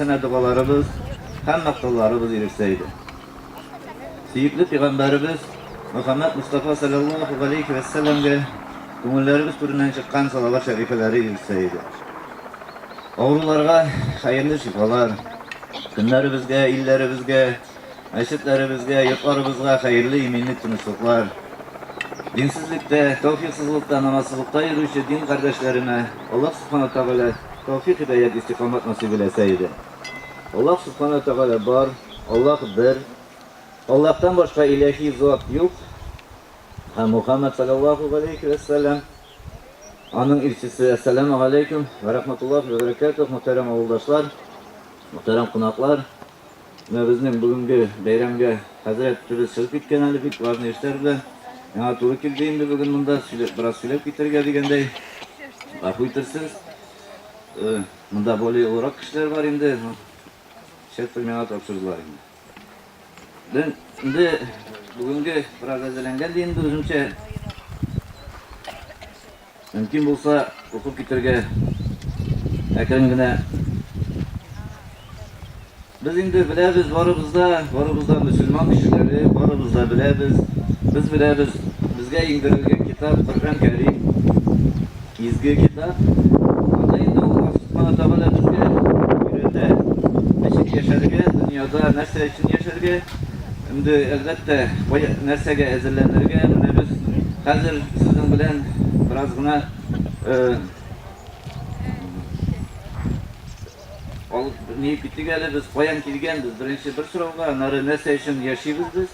Әнә догаларыбыз, һәммә кылларыбыз ирешсә иде. Сөекле пигамбәребез Мөхәммәд Мостафа салләллаһу галәйһи вә сәлләмгә күңелләребез түреннән чыккан салават шәрифәләре ирешсә иде. Авыруларга хәерле шифалар, көннәребезгә, илләребезгә, Мәчетләребезгә, йортларыбызга хәерле иминлек, тынычлыклар. Динсезлектә, тәүфиксызлыкта, намазсызлыкта йөрүче дин кардәшләремә Аллаһ Субхана Ва Тәгалә тәүфик-һидәят, истикамәт насыйп иләсә иде. Аллаһ Субхана Ва Тәгалә бар, Аллаһ бер, Аллаһтан башка иләһи зат юк һәм Мухаммәд саләллаһу галәйһи вә сәлам аның илчесе. Әссәләмү галәйкүм вә рахматуллаһи вә бәрәкәтүһ, мөхтәрәм авылдашлар, мөхтәрәм кунаклар! Менә безнең бүгенге бәйрәмгә хәзрәт төбе чыгып киткән әле, бик важный эшләр белән. Миңа туры килде инде бүген монда сөйләп, бераз сөйләп китәргә дигәндәй. Гафу итәрсез. Э, монда более олырак кешеләр бар инде. Шефтер миңа тапшырдылар инде. Мен инде бүгенге бераз әзерләнгән ди инде үземчә. Мөмкин булса, укып китәргә әкрен генә. Без инде беләбез, барыбыз да, барыбыз да мөселман кешеләре, барыбыз да беләбез. Без беләбез, безгә иңдерелгән китап Коръән Кәрим, изге китап. Анда инде Аллаһ Субхана Тәгалә безгә өйрәтә, ничек яшәргә, дөньяда нәрсә өчен яшәргә. Инде, әлбәттә, кая, нәрсәгә әзерләнергә, менә без хәзер сезнең белән бераз гына алып ни китик әле, без каян килгәнбез, беренче бер сорауга, аннары нәрсә өчен яшибез без,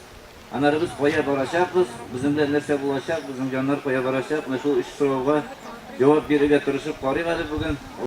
аннары без кая барачакбыз, безнең белән нәрсә булачак, безнең җаннар кая барачак, менә шул өч сорауга җавап бирергә тырышып карыйк әле бүген.